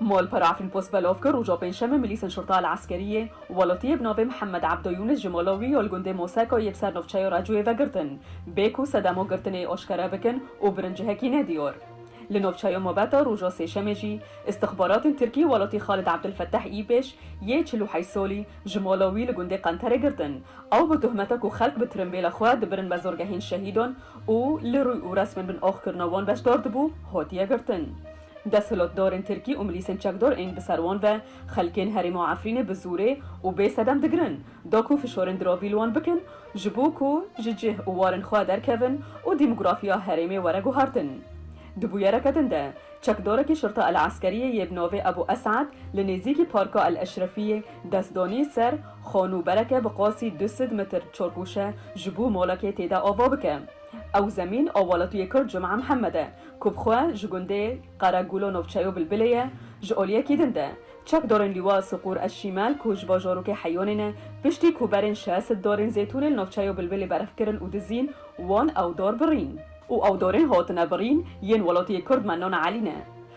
Malpera Filmpost belav kir, roja Pêncşemê milîsên Şurta El Eskeriyê û welatiyê bi navê Mihemed Ebdo Yûnis ji mala wî ya li gundê Moseka yê bi ser navçeya Racoyê ve girtin bê ku sedema girtinê aşkere bikin û birin cihekî ne diyar. Li navçeya Mabeta roja Sêşemê jî îstixbaratên Tirkî welatî Xalid Ebdulfetteh Îpêş yê çil û heyş salî ji mala wî li gundê Qenterê girtin ew bi tuhmeta ku xelk bi tirimbêla xwe dibirin mezargehên şehîdan û li rûy û resmên bin oxkirina wan beşdar dibû, hatiye girtin. Desthilatdarên tirkî û milîsên çekdar ên bi ser wan ve xelkên herêma Efrînê bi zorê û bê sedem digirin, da ku fişarên diravî li wan bikin ji bo ku ji cih û warên xwe derkevin û dîmografîya herêmê were guhartin. Di bûyereke din de, çekdarekî Şirta El Eskeriyê yê bi navê Ebû Es'ed li nêzîkî Parka El Eşrefiyê dest danî ser Xon û bereke bi qasî du sed metr çorgûşe ji bo malekê tê de ava bike. Ew zemîn a welatiyê kurd Cum'a Mihemed e ku bi xwe ji gundê Qeregulo navçeyo Bilbilê ye ji aliyekî din de. Çekdarên Lîwa Siqûr Eşîmel ku ji bajarokê Heyonê ne, piştî ku berên şesit darên zêtûnê li navçeyo Bilbilê berf kirin û dizîn, wan ew dar birîn. Û ew darên hatine birîn yên welatiyê kurd Mennan Elî ne.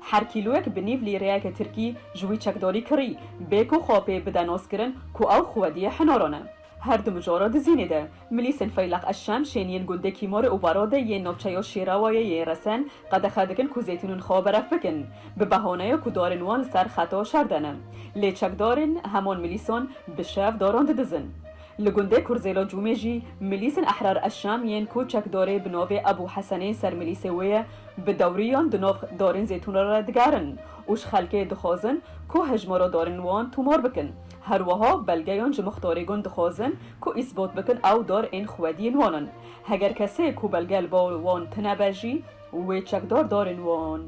Her kîloyek bi nîv lîreyeke tirkî ji wî çekdorî kirî, bê ku xwe pê bide noskirin ku ew xwediyê Hinoron e. Her du mijara Dizînê de, milîsên Feyleq Eşşem şên yên gundê Kîmore û Barode yên navçeya Şêrawayê yê Resen qedexe dikin ku zeytûnên xwe beref bikin, bi behaneya ku darên wan li ser xeta şer de ne. Lê çekdarên heman milîsan bi şev daran didizin. Li gundê Kurzêlo Cûmê jî Milîsên Ehrar Eşşam yên ku çekdorê bi navê Ebû Hesenê ser milîsê wê ye, bi dewriyan di nav darên zêtûn re digerin û ji xelkê dixwazin ku hejmara darên wan tûmar bikin. Her wiha belgeyan ji mixtarê gund dixwazin ku îsbat bikin ew dar ên xwediyên wan in. Heger kesê ku belge li ba wan tine be jî wê çekdar darên wan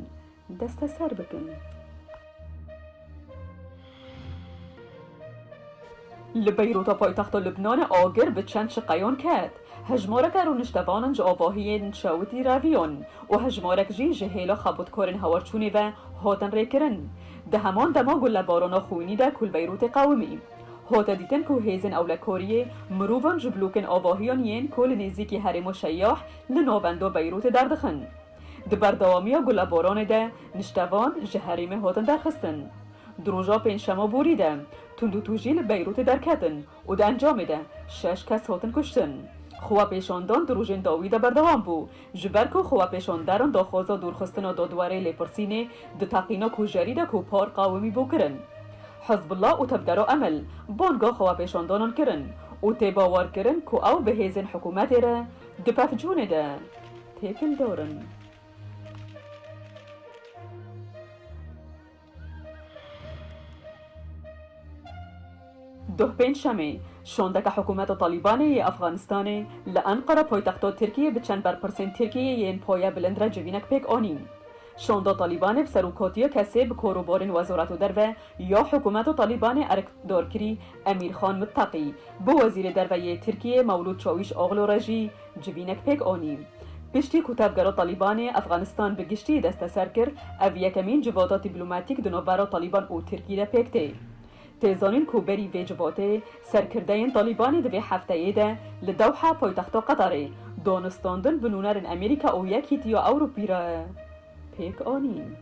Desteser bikin. Li Beyrûta paytexta Lubnanê agir bi çend çiqeyan ket. Hejmareke rûniştevanan ji avahiyên çewitî reviyan û hejmarek jî ji hêla xebûtkarên hawarçûnê ve hatin rêkirin. Di heman dema ku lebarana xwînî de ku li Beyrûtê qewimî, hate dîtin ku hêzên ewlekariyê mirovan ji blokên avahiyan yên ku li nêzîkî herêma Şeyah li navenda Beyrûtê derdixin, Di berdewamiya gulaboranê de niştevan ji herêmê hatin derxistin. Di roja pêncşema borî de tundûtûjî li Beyrûtê derketin û di encamê de şeş kes hatin kuştin. Xwepêşandan di rojên dawî de berdewam bû, ji ber ku xwepêşanderan daxwaza dûrxistina dadwerê Lêpirsînê di teqîna kujerî de ku par qewimî bû kirin. Hizbullah û Tevgera Emel banga xwepêşandanan kirin û tê bawerkirin ku ew bi hêzên hikûmetê re Di pevçûnê de têkil dor in. Duh Pêncşemê, şondeke hikûmeta Talîbanê yê Efxanistanê li Enqere poytexto Tirkiyê bi çend berpirsên Tirkiyeyê yên poye bilind re civînek pêk anîn. Şonda Talîbanê bi serokatiya kesê bi kor û borên Wezareta Derve Ya hikûmeta Talîbanê erk dar kirî Emîr Xan Mittaqî, bi Wezîrê Derve yê Tirkiyê Mewlûd Çawîşoglû re jî civînek pêk anî. Piştî ku tevgera Talîbanê Efxanistan bi giştî desteser kir, ev yekemîn civata dîplomatîk di navbera Talîban û Tirkî de pêk tê. Tê zanîn ku berî vê civatê, serkirdeyên Talîbanê di vê hefteyê de li Dewha paytexta Qetarê, danûstandin bi nûnerên Amerîka û Yekîtiya Ewropî re. pêk anîn.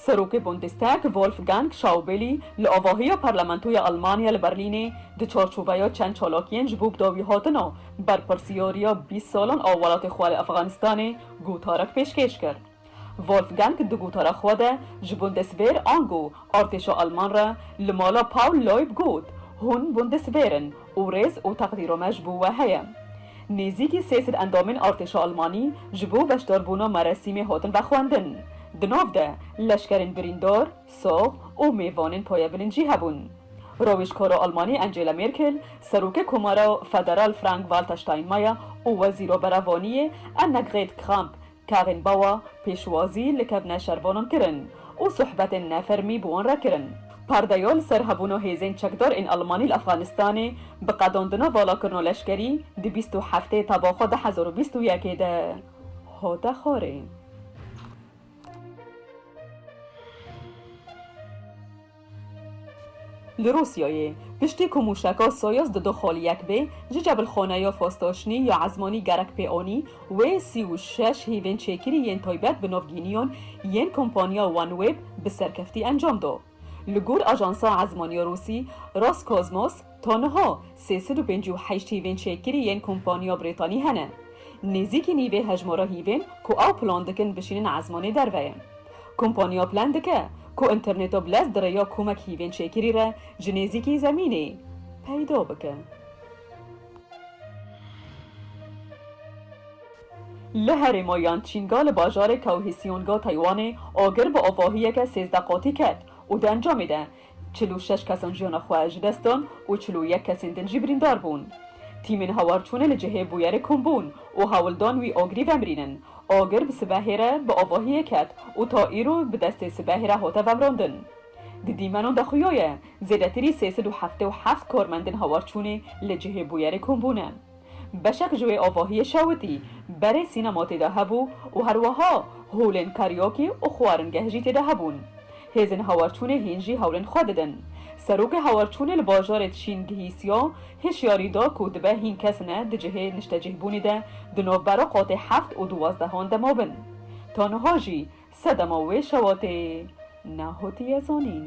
Serokê Bundestag Wolfgang Schaubeli li avahiya Parlamentoya Elmanya li Berlînê di çarçoveya çend çalakiyên ji bo bidawîhatina berpirsyariya bîst salan a welatê xwe li Efxanistanê gotarek pêşkêş kir. Wolfgang di gotara xwe de ji Bundeswehr ango artêşa Alman re li mala Paul Loib got, Hûn Bundeswehr in û rêz û teqdîra me ji bo we heye. Nêzîkî sê sed endamên artêşa Almanî ji bo beşdarbûna merasîmê hatin vexwendin. Di nav de leşkerên birîndar, sax û mêvanên payebilin jî hebûn. Rawêjkara Almanî Angela Merkel, Serokê Komara Federal Frank-Walter Steinmeier û Wezîra Berevaniyê Annegret Kramp Kevin Bawa pêşwazî li kevna şervanan kirin û sohbetên nefermî bi wan re kirin. Perdeya li ser hebûna hêzên çekdar ên Elmanî li Efxanistanê bi qedandina valakirina leşkerî di bîst û heftê teba xwe du hezar û bîst û yek ê de hate xwarê. Li Rûsyayê, piştî ku mûşeka Soyuz di du xolî yek bê, ji cebilxaneya Fostoşnî ya Ezmanî gerek pê anî, wê sî û şeş hîvên çêkirî yên taybet bi navgîniyan yên kompaniya OneWeb bi serkeftî encam da. Li gor ajansa ezmanî ya Rûsî, Roscosmos, Ta niha sê sed û pêncî û heşt hîvên çekkirî yên kompanya Brîtanî hene. Nêzîkî nîvê hejmara hîvên ku ew plan dikin bişînin ezmanê derve ye. Kompanya plan dike ku înterneta bi lez di rêya komek hîvên çekkirî re ji nêzîkî zemînê peyda bike. Li herêma Yançînga li bajarê Kaohsîonga Taywanê agir bi avahiyeke sêzdeh qatî ket û di encamê de Çil û şeş kesan jiyana xwe ji dest dan û çil û yek kesên din jî birîndar bûn. Tîmên hawarçûnê li cihê bûyerê kom bûn û hewl dan wî agirî vemrînin. Agir bi sibehê re bi avahiyê ket û ta îro bi destê sibehê re hate vemrandin. Di dîmenan de xuya ye zêdetirî sê sed û heftê û heft karmendên hawarçûnê li cihê bûyerê kom bûne. Beşek ji wê avahiyê şewitî berê sînema tê de hebû û herwiha holên kariokê û xwaringeh jî tê de hebûn. Hêzên hawarçûnê hîn jî hewlên xwe didin. Serokê hawarçûnê li bajarê Tişîn Gihî Siya hişyarî da ku dibe hîn kes ne di cihê niştecihbûnê de di navbera qatê heft û duwazdehan de mabin. Ta niha jî sedema wê şewatê nehotiye zanîn.